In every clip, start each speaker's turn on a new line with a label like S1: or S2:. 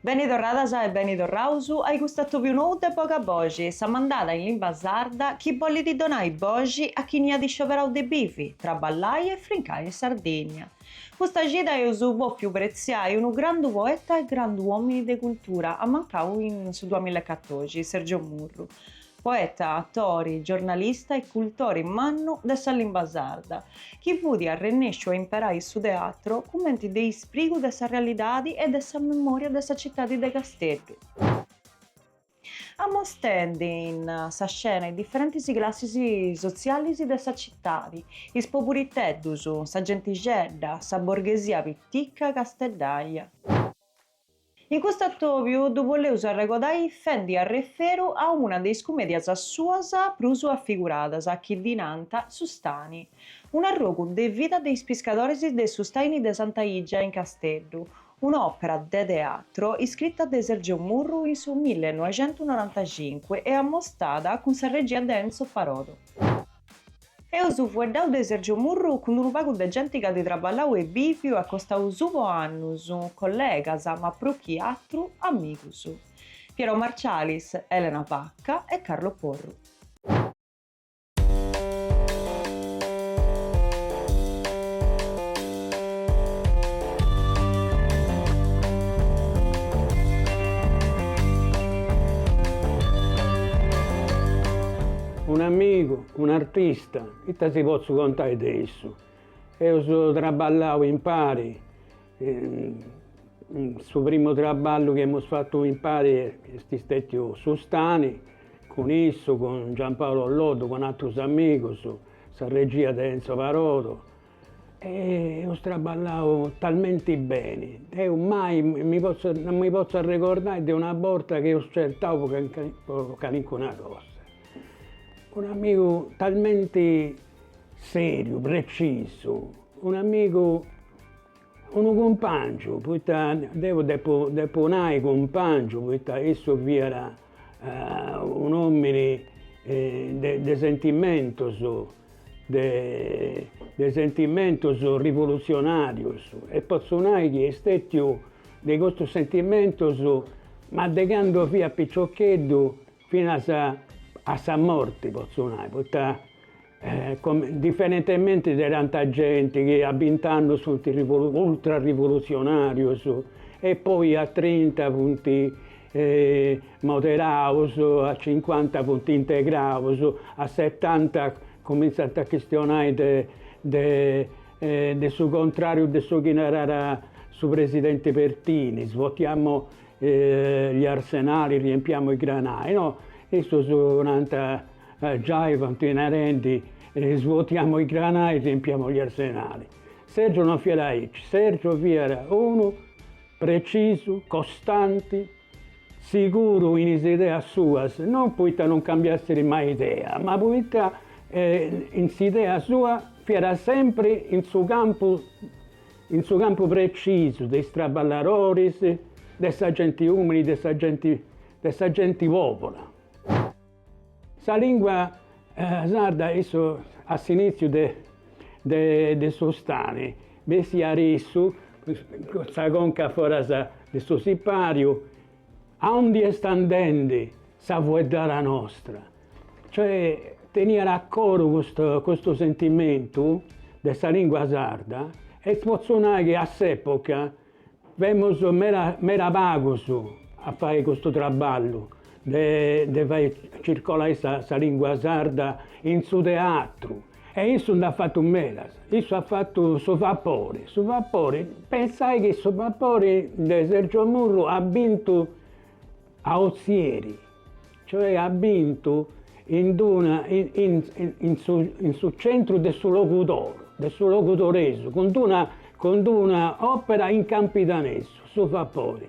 S1: Beni torradas e beni torraus ai cust'atòbiu nou de Boga Boxi, sa mandada in limba sarda chi bollit donai boxi a chini at scioberau de bivi, traballai e frincai in Sardigna. Custa cida eus bòfiu pretziai unu grandu poeta e grandu òmini de cultura, ammancau in su duamilla e catoxi, Sergio Murru, poeta, atori, giornalista e cultori mannu de sa limba sarda, chi fut arrennesciu a imperai su teatru cumenti de isprigu de sa realidadi e de sa memoria de sa citadi de Casteddu, amostendi in sa scena is diferentis classis sotzialis de sa citadi, is poburiteddus, sa gentixedda, sa borghesia piticca casteddaja. In custu atòbiu ddu boleus arregodai fendi arreferu a una de is cumèdias suas prus afiguradas chi ddi nant Su Stani, unu arrogu de vida de is piscadoris de su Staini de Santa Igia in Casteddu, un'òpera de teatru iscrita de Sergio Murru in su millenoixentunorantacincu e amostada cun sa regia de Enzo Parodo. Eus fueddau de Sergio Murru cun unu pagu de genti c'at traballau e bìviu a costau suu po annus, collegas, ma prus chi atru, amigus. Piero Marcialis, Elena Pacca e Carlo Porru. Un'amigu, Un'artista, ita si potzu contai de issu? Eus traballau impari, su primu traballu chi emus fatu impari est stètiu Su Stani, cun issu, cun Giampaolo Loddo, cun atrus amigus, sa regia de Enzo Parodo Eus traballau talmenti beni, deu mai mi potzu non mi potzu arregordai de una borta chi eus certau po po calincuna cosa. Un'amigu talmenti seriu, precisu, un'amigu Unu cumpàngiu, poita deu depu depu nai cumpàngiu, poita issu fiat un'òmini de de sentimentus de de sentimentus rivulutzionàrius e potzu nai chi est stètiu de custus sentimentus ma de candu fiat piciocheddu finas a sa morti potzu nai, poita Diferentementi de tanta genti chi a bint'annus funt ultrarivolutzionarius e poi a trinta funt moderaus, a cincuanta funt integraus, a setanta cumintzant a chistionai de de de su contrariu de su chi narat su presidenti Pertini, votiamo E gli arsenali riempiamo i granai, no, istus nant, giai funt narendi, svuotiamo i granai e riempiamo gli arsenali. Sergio non fiat aici, Sergio fiat unu precisu, costanti, siguru in is ideas suas, non poita non cambiassit mai idea, ma poita in s'idea sua fiat sempri in su campu In su campu precisu de is traballadoris, de sa genti umili, de sa genti de sa genti pobura. Sa lingua sarda in su a s'initziu de de de su stani bessiat issu cun sa conca foras de su sipariu Aundi est andendi sa fueddara nostra? Cioè, teniat a coru custu custu sentimentu de sa lìngua sarda e potzu nai chi a s'època femus meda meda pagus a fai custu traballu de de fai circolai sa lìngua sarda in su teatru E issu nd'at fatu medas, issu at fatu su vapori, su vapori, pensai chi su vapori de Sergio Murru at bintu a Ozieri, cioè at bintu in d'una in su in su centru de su Logudoru, de su logudoresu, cun d'una cun d'una opera in campidanesu, su vapori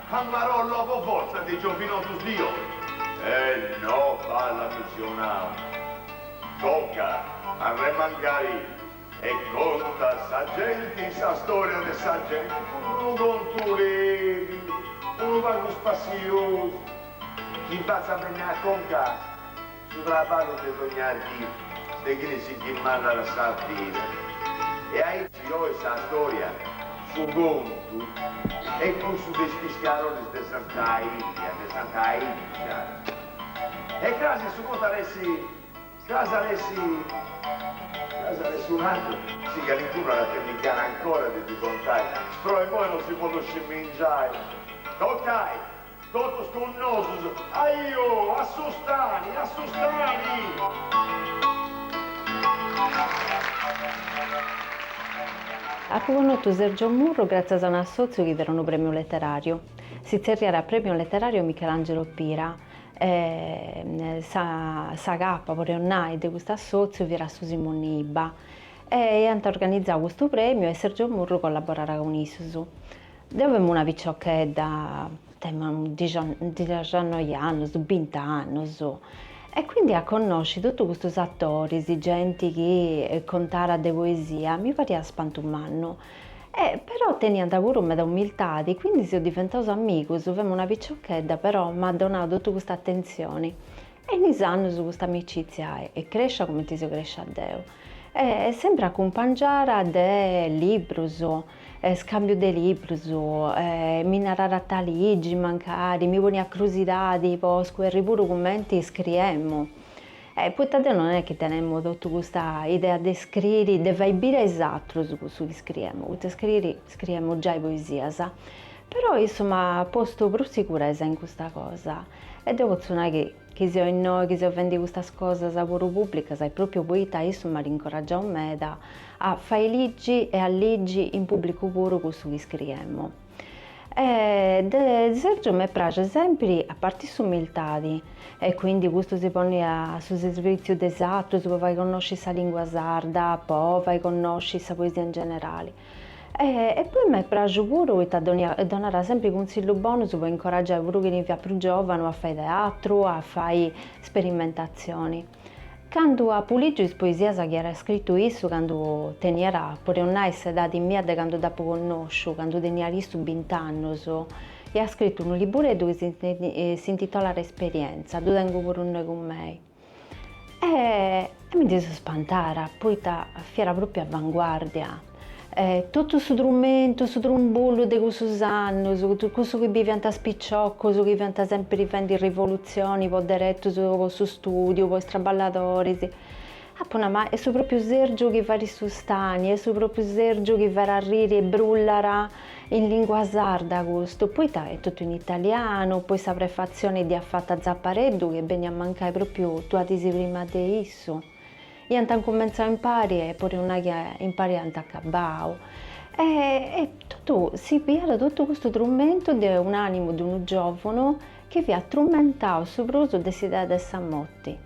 S1: A marolla po forza de giovinotus dio. E no b'at misionau. Toca arremangai e conta sa genti sa storia de sa genti cun d'unu contu lebiu, unu pagu spassiosu, chi b'at sa bennia a conca. Su traballu de dogna dì de chini si chi mandat sa vida. E aici oi sa storia, su contu, est cussu de is piscaroris de Santa Ilia, de Santa Illa. E crasi su contu ar'essi, crasi ar'essi, crasi ar'essi un'atru, si calincunu at a tenni gana ancora de ddi contai, però immoi non si podit scimingiai. Toccai! Totus cun nosus, aiò, a su stani, a su stani! Apu connotu Sergio Murru gràtzias a un assòtziu chi teniat unu prèmiu leteràriu, si tzerriat Premio Letterario Michelangelo Pira, e sa sa capa, podeus nai, de custu assòtziu fiat Susi Monni Ibba, e iant organizau custu prèmiu e Sergio Murru collaboràt cun issus. Deu femu una piciochedda, temu dixannoi annus, bint'annus, e quindi a connosci totu custus attoris, genti chi contarat de poesia, mi pariat spantu mannu. E però teniant puru meda umiltadi, quindi seus diventaus amigus, femu una piciochedda però m'at donau totu custa attenzioni, e in is annus custa amicizia est crescia cumenti seu crescia deu. E semper acumpangiara de librus, scambiu de librus, mi narat ita ligi mancari, mi poniat crusidadi po scoberri puru cumenti scriemu. Poita deu non est chi tenemu totu custa idea de scriri, de fai biri a is atrus cussu chi scriemu, poita scriri scriemu giai poesias. Però issu m'at postu prus siguresa in custa cosa e deu potzu nai chi Chi seu innoi, chi seu fendi custas cosas puru pùblicas est pròpiu poita issu m'at incoraggiau meda a fai ligi e a ligi in pùblicu puru cussu chi scriemu. E de Sergiu m'est praxia sèmpiri a parti s'umiltadi e quindi custu si ponni a su serbìtziu de is atrus po fai connosci sa lìngua sarda, po fai connosci sa poesia in generali. E poi m'est praxu puru poita donat sempri cunsillus bonus po incoraggiai puru chini fiat prus giovanu a fai teatru, a fai sperimentatzioni. Candu apu ligiu is poesias chi iat scritu issu candu teniat, podeus nai, s'edadi mia de candu dd'apu connotu, candu teniat issu bint'annus, iat scritu unu libureddu chi s'intitolat Esperienza, ddu tengu puru innoi cun mei. E mi ndi seu spantara, poita fiat propriu avanguardia, totu su trumentu, su trumbullu de cussus annus, cussu chi biviant is piciocus chi fiant sempiri fendi rivolutzioni po deretus po su studiu, po is traballadoris, apu nau, ma est su propriu Sergiu chi fait su Stani, est su propriu Sergiu chi fait arriri e brullai In lìngua sarda custu, poita est totu in italianu, poi sa prefatzione dd'iat fata Zapareddu chi beniat a mancai pròpiu duas dis prima de issu. Iant cumentzau impari e po nai chi impari iant acabau. E e totu si biviat totu custu trumentu de un'ànimu de unu giòvunu chi fiat trumentau su prus de s'idea de sa morti.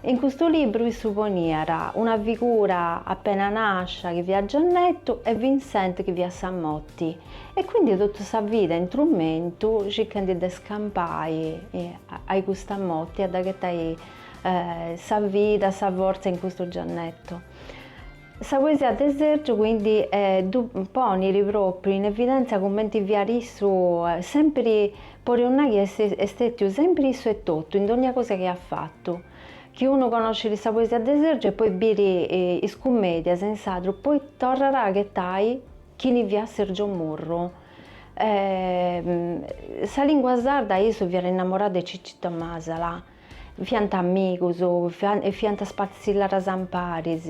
S1: In custu libru issu poniat una figura appena nascia chi fiat Giannettu e Vincent chi fiat sa motti e quindi totu sa vida in trumentu circhendi de scampai ai custa motti e de ghettai sa vida, sa forza in custu Giannettu. Sa poesia de Sergio quindi ddu ponit pròpriu in evidèntzia cumenti fiat issu sèmpiri, podeus nai chi est stètiu sèmpiri issu etotu in dònnia cosa chi at fatu. Chi unu connoscit sa poesia de Sergio e poi biri is cumèdias in sardu poi torrat a aghetai chini fiat Sergio Murru. Sa lìngua sarda, issu fiat innamorau de Cicito Masala. Fiant amigus e faiant is passilladas amparis.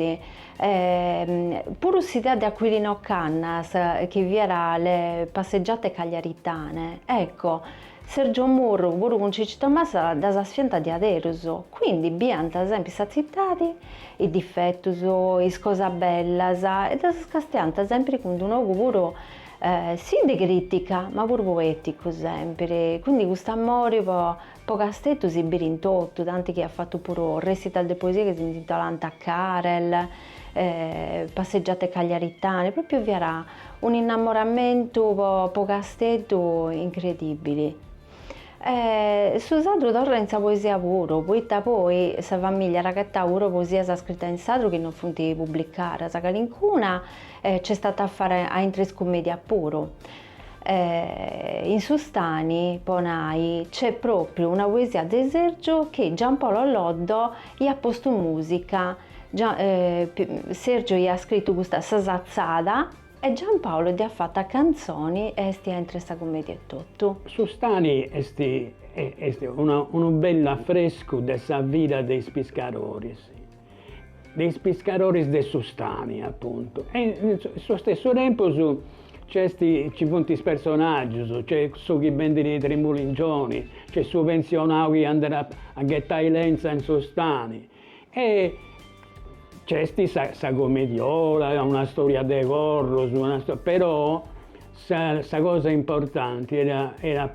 S1: Puru s'idea de Aquilino Cannas, chi fiat le passeggiate cagliaritane, ecco, Sergio Murru, puru cun Cicito Masala ddas faiant diaderus. Quindi biant sempri sa tzitadi, is difetus, is cosas bellas e ddas castiànt sempri cun d'unu ogu puru, sì de critica, ma puru poeticu sempri. Quindi cust'amori po Po Casteddu si biri in totu, tanti chi at fatu puru recital de poesia chi si intitolant Karel, Passeggiate Cagliaritane, propriu fiat un'innamoramentu po Casteddu incredibili. Su sadru torrat in sa poesia puru, poita poi sa famiglia at agatau puru poesias scritas in sadru chi non funt publicadas, calincuna nc'est a fai a intre is cumedias puru. E in su stani, po nai, nc'est pròpriu una poesia de Sergio chi Giampaolo Loddo iat postu mùsica, Sergio iat scritu custa Sa Satzada e Giampaolo dd'iat fata a cantzoni e est a intre sa cummedia etotu. Su stani est est unu bell'afrescu de sa vida de is piscadoris de is piscadoris de su stani, apuntu, e in su stessu tempus nc'est, nci funt is personaggius, nc'est su chi bendit is trimuligioni, nc'est su pensionau chi andat a a ghetai lentza in su stani e nc'est sa sa comediola, una storia de corrus, una storia, però Sa cosa importanti est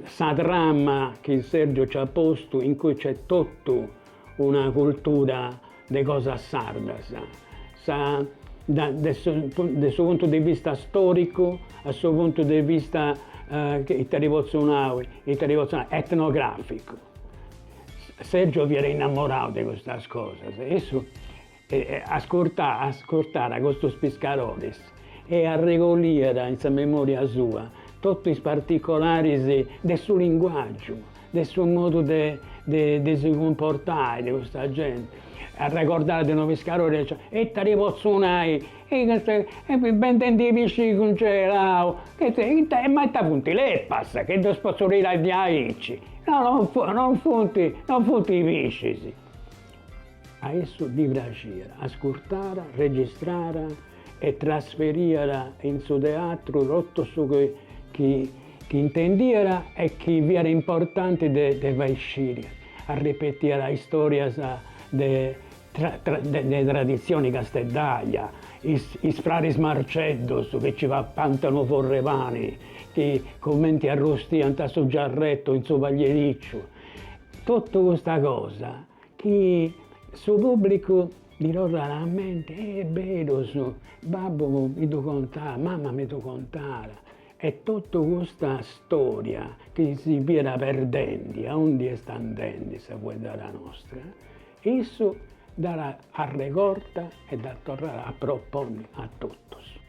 S1: sa trama chi Sergio nci at postu in cui nc'est totu una cultura de cosas sardas, de su puntu de vista storicu, a su puntu de vista ita ti potzu nai, etnograficu. Sergio fiat innamorau de custas cosas e issu E ascurtàt, ascurtàt custus piscaroris e arregoliat in sa memòria sua totu is particolaris de su linguàgiu, de su modu de de si cumportai de custa genti. Arregordàt de unu piscarori aici, ita ti potzu nai, e custu, bendendi pisci cungelau, ita, ma ita funt lepas chi ddus potzu tirai diaici, no no funt, no funt piscis. A issu ddi praxiat ascurtare, registrare e trasferiat in su teatru totu su chi intendiat e chi fiat importanti de fai sciri. Arripetiat istòrias de traditzioni casteddaja, is fraris Marceddus chi nci papànt in unu forrepani, chi cumenti arrustiant su giarretu in su pagliericciu, Totu custa cosa chi su pubblicu ddi torrat a mente, est berus, babbu mi ddu contàt, mama mi ddu contat, e totu custa storia chi si fiat perdendi, aundi est andendi sa fueddada nostra, issu dd'at arregorta e dda torrat a proponni a totus.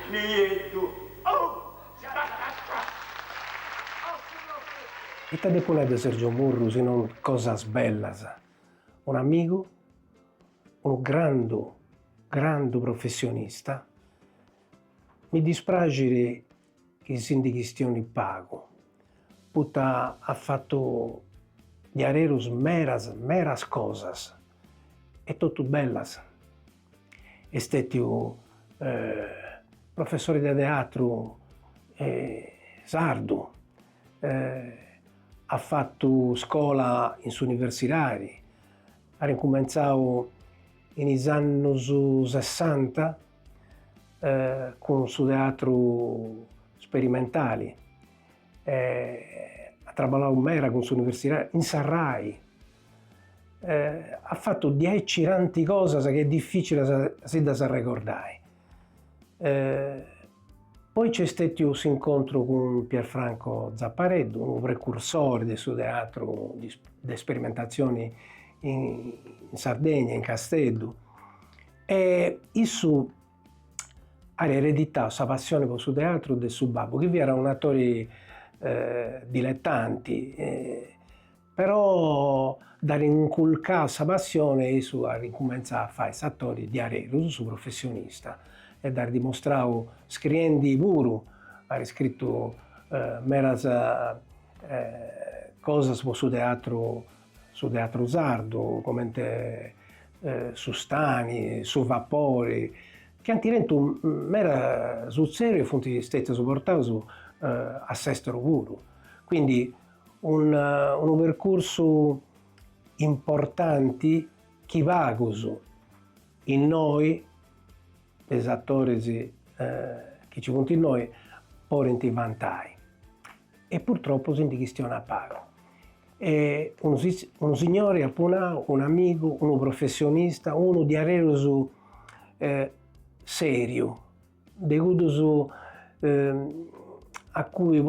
S1: Ita depu nai de Sergio Murru si non cosas bellas, un'amigu, unu grandu, grandu professionista, mi dispraxit chi si ndi chistionit pagu, poita at fatu diaderus meras, meras cosas. e totu bellas. Est stètiu professori de teatru sardu, at fatu scola in s'universidadi, at incumentzau in is annus sessanta cun su teatru sperimentali At traballau meda cun s'universidadi, in sa Rai. At fatu diaici tanti cosas chi est dificili a si ddas arregordai. Poi nc'est stètiu s'incontru cun Pierfranco Zappareddu, unu precursori de su teatru de sperimentatzioni in Sardegna, in Casteddu. E issu At ereditau sa passioni po su teatru de su babbu chi fiat un'atori diletanti però dd'at inculcau sa passioni e issu at incumentzau a fai s'atori diaderus, su professionista e dd'at dimustrau scriendi puru, at scritu medas cosas po su teatru Su teatru sardu, comente Su Stani, Su Vapori, chi ant tentu meda sutzessu e funt stètius portaus a s'èsteru puru. Quindi unu percursu importanti chi pagus innoi, de is atoris chi nci funt innoi, podint vantai. E purtropu si ndi chistionat pagu. E unu, unu signori apu nau, unu amigu, unu professionista, unu diaderus seriu, de cuddus a cui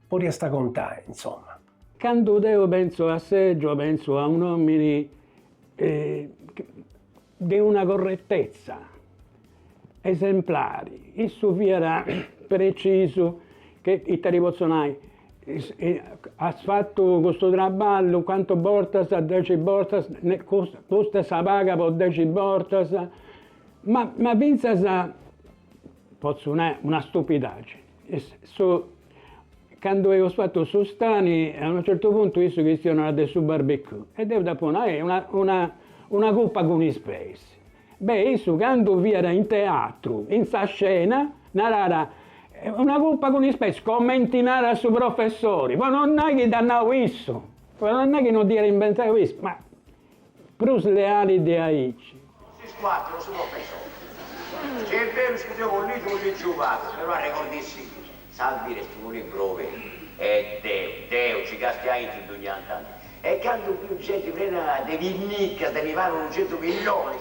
S1: podiasta contai insoma. Candu deu pentzu a Sergio pentzu a un'omini de una corretezza esemplari, issu fiat precisu che ita ti potzu nai, as fatu custu traballu cantu bortas, dexi bortas, custa est sa paga po dexi bortas, ma fintzas potzu nai una stupidagini, Candu eus fatu su stani, a unu certu puntu issu chistionat de su barbecue e deu dd'apu nau, una una cupa cun is peis. Beh, issu candu fiat in teatru, in sa scena, narat, una cupa cun is peis, comenti narat su professori, po non nai chi dd'at nau issu, po non nai chi non dd'iat inventau issu, ma Prus leali de aici. Is cuatru su professori. Si est beru is chi deu po ligi fut ingiubadu, però arregordissi chi sa vida est unu libru obertu e deu, deu, nci castiu aintru dogni tanti. E candu biu genti prena de pinnicas de mi paru unu centu millonis,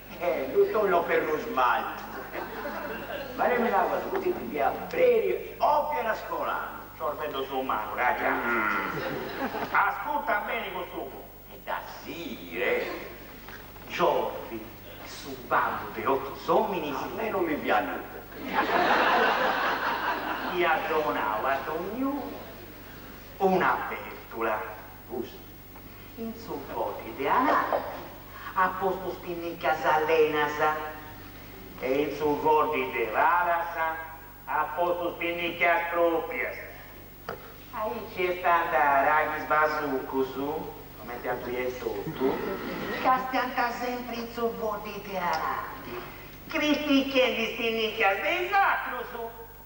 S1: Eh, ddu tollo per lu smaltu. Baremilu aguas cusì ti dia preri opiu era scolanu. Sorveddu su maru, raja. Ascurta beni custu cu. E dda sighire. Giovi, su babbu de totu is ominis. A me no mi fiat nudda. Iat donau a dogniunu una bertula. Cussa. In su foddi de ananti at postu is pinnicas allenas e in su foddi de palas at postu is pinnicas pròpias. Aici est a andare a aghis basucus, comente a tui etotu, castiant sempri in su foddi de ananti, critichendi is pinnicas de is atrus.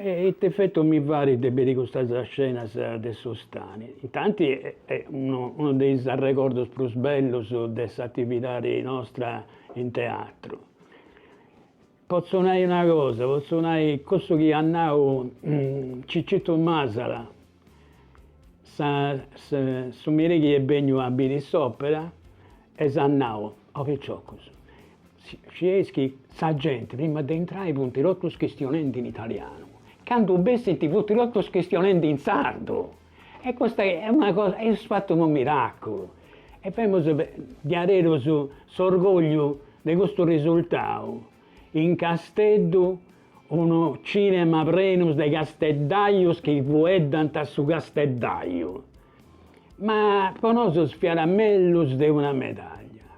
S1: E ite effetto mi fait de biri custas scenas de su stani? Intanti est unu de is arregordos prus bellus de s'atividadi nostra in teatru. Potzu nai una cosa, potzu nai cussu chi at nau Cicittu Masala, Su merì chi est benniu a biri s'opera e s'at nau o piciocus, scieis chi sa genti prima de intrai funti totus chistionendi in italianu, candu bessint funti totus chistionendi in sardu e custa est una cosa, eis fatu unu miraculu e femus diaderus s'orgogliu de custu risultau in Casteddu Unu cinema prenus de casteddajus chi fueddant su Casteddaju, ma po nosus fiat mellus de una medaglia.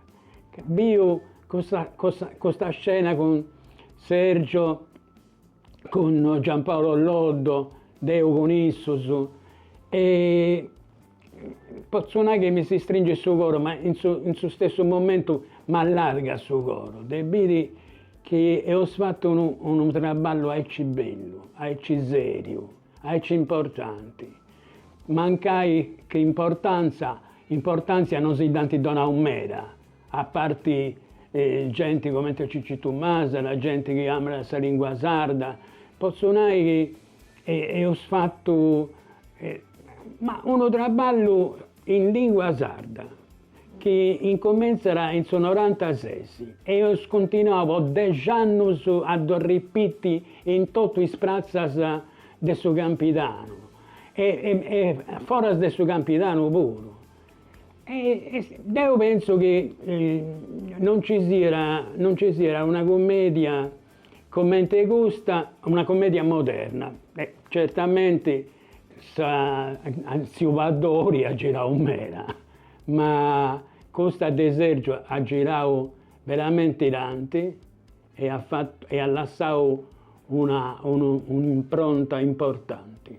S1: Biu custa scena cun Sergio, cun Giampaolo Loddo, deu cun issus e Potzu nai chi mi si stringit su coro, ma in su in su stessu momentu m'allargat su coro de biri chi eus fatu unu unu traballu aici bellu, aici seriu, aici importanti. Mancai chi importanza importantzia non si dd'ant donau meda, a parti genti cumenti Cicitu Masala, genti chi amat sa lingua sarda, potzu nai chi Eus fatu ma unu traballu in lìngua sarda chi incumentzat in su norantases e eus continuau po dexi annus a ddu ripiti in totu is pratzas de su Campidanu e foras de su Campidanu puru. Deu pentzu chi non nci siat, non nci siat una cumèdia comente custa una commedia moderna e certamente tziu Paddori at girau meda ma custa de Sergiu at girau veramente tanti e at fatu e at lassau una un'impronta importanti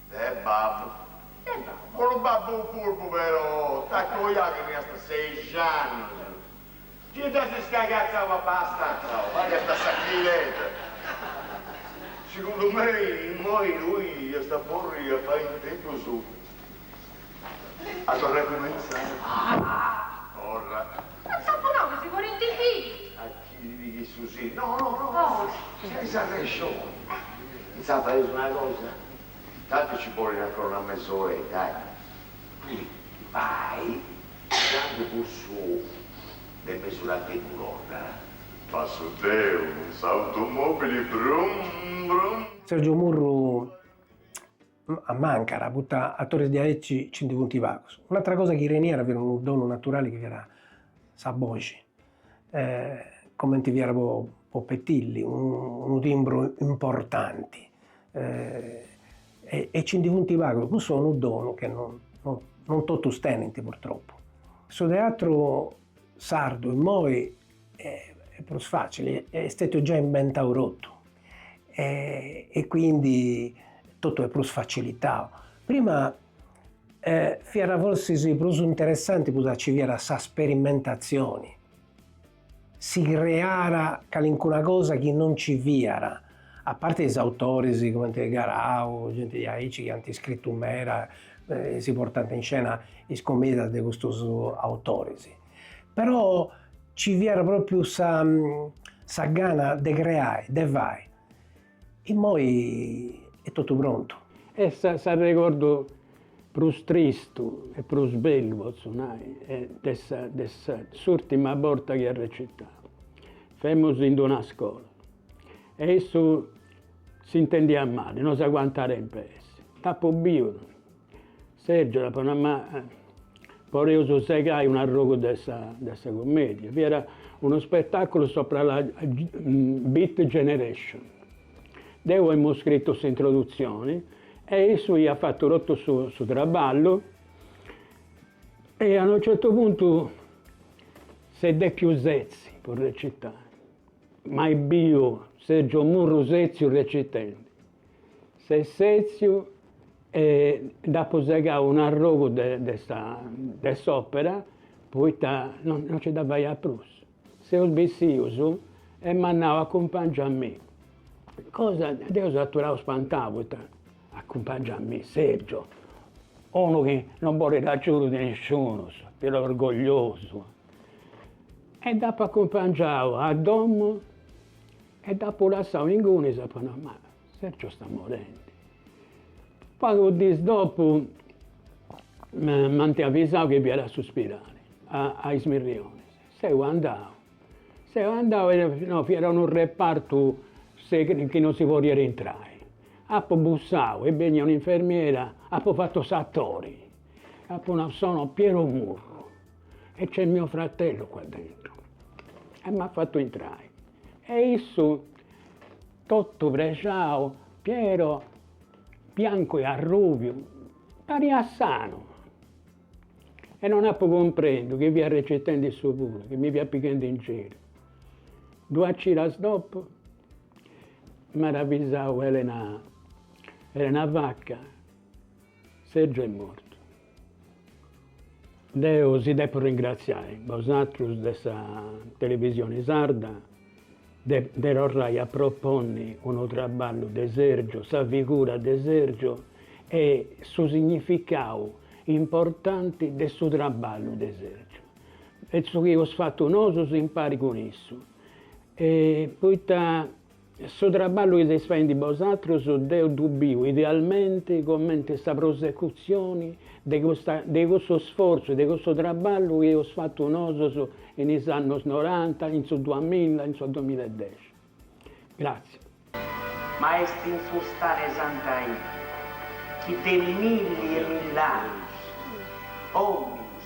S1: De babbu. De babbu. Unu babbu furbu però, t'accoiau chi teniast sexi annus. Chi dd'as iscagatzau abastanza, o faiasta sa civeta. Segundu mei, immoi tui iast aporri a fai in tempus a torrai a cumentzai. Ah! Torra. M'at saponau chi si porint is fillus. Chi mi chissu si. No, no, no, no, tenis arrexoni. Intzà faeus una cosa, tantu ci bollit ancora una mesoredda, eh. Tui vai, candu cussu de mesu latecu torrat. Passu deu cun s'automobili, brum, brum. Sergiu Murru A mancara, poita atores diaeci ci ndi funti pagus. Un'atra cosa chi teniat fiat unu donu naturali chi fiat sa boxi, comenti fiat po po Petilli, unu timbru importanti e ci ndi funti pagus, cussu est unu donu che non non totus tenint purtroppu. Su teatru sardu immoi Prus facili, est stetiu già imbentau totu e quindi totu est prus facilitau. Prima fiat forsis prus interessanti poita ci fiat sa sperimentazioni, si creara calincuna cosa chi non ci fiat, a parti is autoris cumenti Garau, genti diaici chi ant scritu meda e si portant in scena is cumedias de custus autoris. Però ci fiat pròpiu sa sa gana de creai, de fai. Immoi est totu prontu. E sa s'arregordu prus tristu e prus bellu, potzu nai, de sa de sa s'ùrtima borta chi at recitau, femus in d'una scola e issu s'intendiat mali, no s'aguantàt in pei. Dd'apu biu Sergiu, Apo nau, ma poreus segai un'arrogu de sa cummèdia. Fiat unu spetàculu subra la Beat Generation. Deu emu scritu s'introdutzioni e issu iat fatu totu su traballu e a unu certu puntu s'est dèpiu setzi po recitai. Mai biu Sergiu Murru sètziu recitendi S'est sètziu e nd'apo segau un'arrogu de sa de s'opera poita no nci dda faiat prus. Seus bessius e m'at nau acumpangia a mi. Cosa, chi deu seu aturau spantau poita, acumpangia a mi, Sergio, unu chi no boliat agiudu de nisciunus, fiat orgogliosu. E dd'apu acumpangiau a domu E dd'apu lassau ingunis apu nau, ma Sergio est morendi. Pagus dis dopu m'ant avisau chi fiat a su spidali, a is Mirrionis. Seu andau, seu andau e fiat unu repartu chi non si podiat intrai. Apu bussau est bennia un'infermiera, apu fatu s'atori, apu nau sono Piero Murru e c'è mio fratello qua dentro e m'at fatu intrai e issu totu prexau, Piero, biancu e arrubiu, pariat sanu e non apu cumprendiu chi fiat recitendi issu puru, chi mi fiat pighendi in giru. Duas cidas dopu m'at avisau Elena Elena Vacca, Sergiu est mortu Deo si depo ringraziai bosatrus de sa televisioni sarda de de torrai a proponni unu traballu de Sergio, sa figura de Sergio e su significau importanti de su traballu de Sergio e su chi eus fatu nosu impari cun issu e poita Su traballu chi seis faendi bosatrus deu ddu biu idealmenti comenti sa prosecutzioni de custa de cussu sfortzu, de cussu traballu chi eus fatu nosus in is annus noranta, in su duamilla, in su dumilla e dexi. Gràtzias. Ma est in fustare Santa Ida chi de milli e mill'annus, ominis,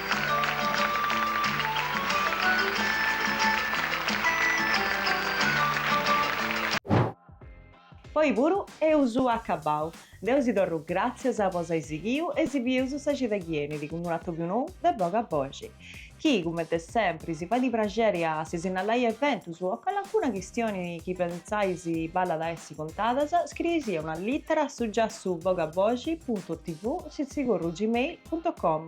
S1: Po oi puru eus acabbau. Deu si torru gràtzias po s'ai sighiu e si bieus sa cida chi benit cun unu atobiu nou de boga boxi. Chi, cumenti sempri, si fait praxeri a si sinnallai eventus o calincuna chistioni chi pentzais ballat a essi contadas, scrieisì una lìtera a su giassu bogaboxi puntu tv sitzigurru gmail puntu com.